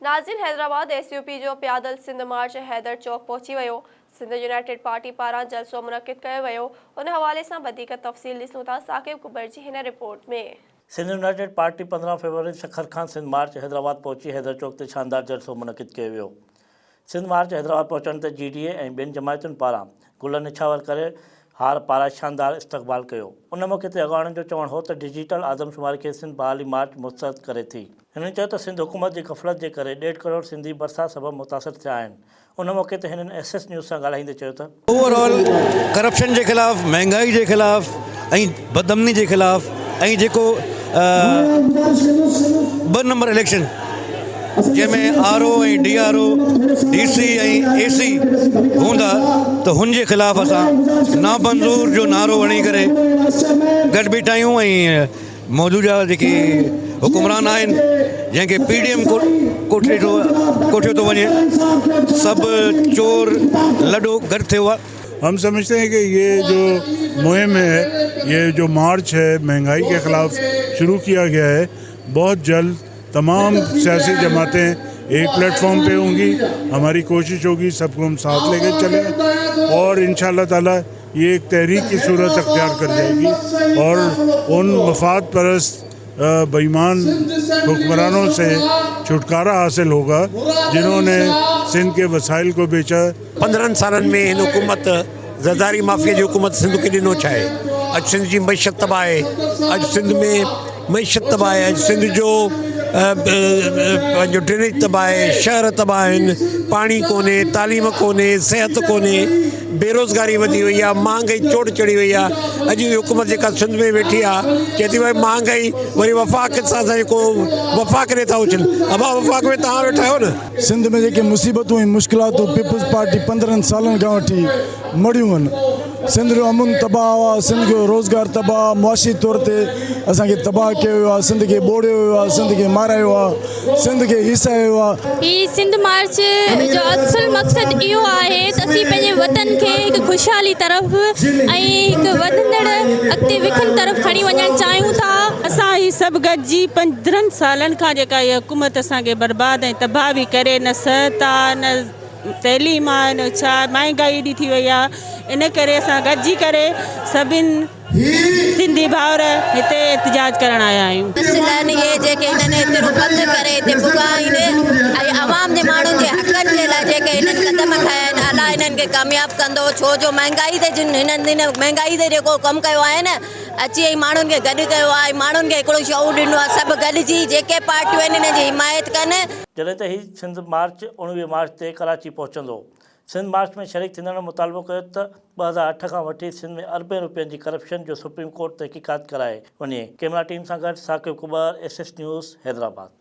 ناظرين Hyderabad S U P جو پيادل سنڌ مارچ حيدر چوڪ پهچي ويو، سنڌ يونائيٽيڊ پارٽي پاران جلسو منعقد ڪيو ويو، ان حوالي سان وڌيڪ تفصيل ڏسون ٿا ثاقب ڪٻر جي هن رپورٽ ۾. سنڌ يونائيٽيڊ پارٽي پندرهن فيبروري سکر کان سنڌ مارچ حيدرآباد پهچي حيدر چوڪ تي شاندار جلسو منعقد ڪيو ويو، سنڌ مارچ حيدرآباد پهچڻ تي جي ڊي اي ۽ ٻين جماعتن پاران گل نڇاور ڪري هار پارائي شاندار استقبال ڪيو. ان موقعي تي اڳواڻن جو چوڻ هو ته ڊجيٽل آدمشماري کي سنڌ بحالي مارچ مسترد ڪري ٿي. هنن چيو ته سنڌ حڪومت جي غفلت جي ڪري ڏيڍ ڪروڙ سنڌي برسات سبب متاثر ٿيا آهن. ان موقعي تي هنن ايس ايس نيوز سان ڳالهائيندي چيو ته. اوور آل ڪرپشن جي خلاف، مهنگائي جي خلاف ۽ بد امني جي خلاف ۽ جيڪو ٻه نمبر اليڪشن جنهن ۾ R O ۽ D R O D C ۽ A C هوندا ته هن جي خلاف اسان نامنظور جو نعرو هڻي ڪري گڏ بيٺا آهيون ۽ موجوده جيڪي حڪمران آهن جنهن کي پي ڊي ايم ڪوٺي ٿو ڪوٺيو ٿو وڃي سڀ چور لڏو گڏ ٿيو آهي. هم سمجهتي هي ڪي يه جو مهم هي يه جو مارچ هي مهنگائي ڪي خلاف شروع ڪيا گيا هي بهت جلد تمام سياسي جماعتي ايڪ پليٽ فارم پي هونگي هماري ڪوشش هوگي سب ڪو هم ساٿ ليڪي چلينگي اور انشاء الله تعالي يي هڪ تحريڪ ڪي صورت اختيار ڪر جائي گي اور ان مفاد پرست بيمان حڪمرانون سي ڇوٽڪارا حاصل هو گا جنهون ني سنڌ ڪي وسائل ڪو بيچا پندرهن سالن ۾ هن حڪومت زرداري مافيا جي حڪومت سنڌ کي ڏنو ڇا آهي اڄ سنڌ جي معيشت تباهه آهي اڄ سنڌ ۾. معيشت تباهه آهي سنڌ جو پنهنجو ڊرينيج تباهه آهي شهر تباهه آهن پاڻي ڪونهي تعليم ڪونهي صحت ڪونهي بيروزگاري وڌي وئي آهي مهانگائي چوٽ چڙهي وئي آهي اڄ جي حڪومت جيڪا سنڌ ۾ ويٺي آهي چئي ٿي ڀاء مهانگائي وري وفاق سان سان ڪو وفاق ڏي ٿا اڇن ابا وفاق ۾ توهان ويٺا آهيو نه سنڌ ۾ جيڪي مصيبتون ۽ مشڪلاتون پيپلز پارٽي پندرهن سالن کان وٺي مڙهيون هن سنڌ جو امن تباهه آهي، سنڌ جو روزگار تباهه آهي، معاشي طور تي اسان کي تباهه ڪيو ويو آهي، سنڌ کي ٻوڙيو ويو آهي، سنڌ کي مارايو آهي، سنڌ کي هيسايو ويو آهي. هي سنڌ مارچ جو اصل مقصد اهو آهي ته اسين پنهنجي وطن کي هڪ خوشحالي طرف ۽ هڪ وڌندڙ اڳتي وکن طرف کڻي وڃڻ چاهيون ٿا. اسان هي سڀ گڏجي پندرهن سالن کان جيڪا هي حڪومت اسان کي برباد ۽ تباهه به ڪري نه سهتا نه تعليم آ ان اڇا مهانگائي ايڏي ٿي وئي آ ان ڪري اسان گڏجي ڪري سڀين سنڌي ڀائر هتي احتجاج ڪرڻ آيا آهيون. مسئلن اهي جيڪي هنن هتي رو بند ڪري هتي پڳا ايندي ۽ عوام جي ماڻهن جي حقن جي لاء جيڪي هنن قدم کنيا آهن الله هنن کي ڪامياب ڪندو ڇو جو مهانگائي تي جن هنن هن مهانگائي تي جيڪو ڪم ڪيو آهي نه اچي ۽ ماڻهن کي گڏ ڪيو آ ۽ ماڻهن کي هڪڙو شعور ڏنو آ سڀ گڏجي جيڪي پارٽيون آهن هنن جي حمايت ڪن. جڏهن ته هي سنڌ مارچ اوڻويهه مارچ تي ڪراچي پهچندو. سنڌ مارچ ۾ شريڪ ٿيندڙن مطالبو ڪيو ته ٻه هزار اٺ کان وٺي سنڌ ۾ اربين روپين جي ڪرپشن جو سپريم ڪورٽ تحقيقات ڪرائي وڃي. ڪيمرا ٽيم سان گڏ Saqib Kubar, S S News, Hyderabad.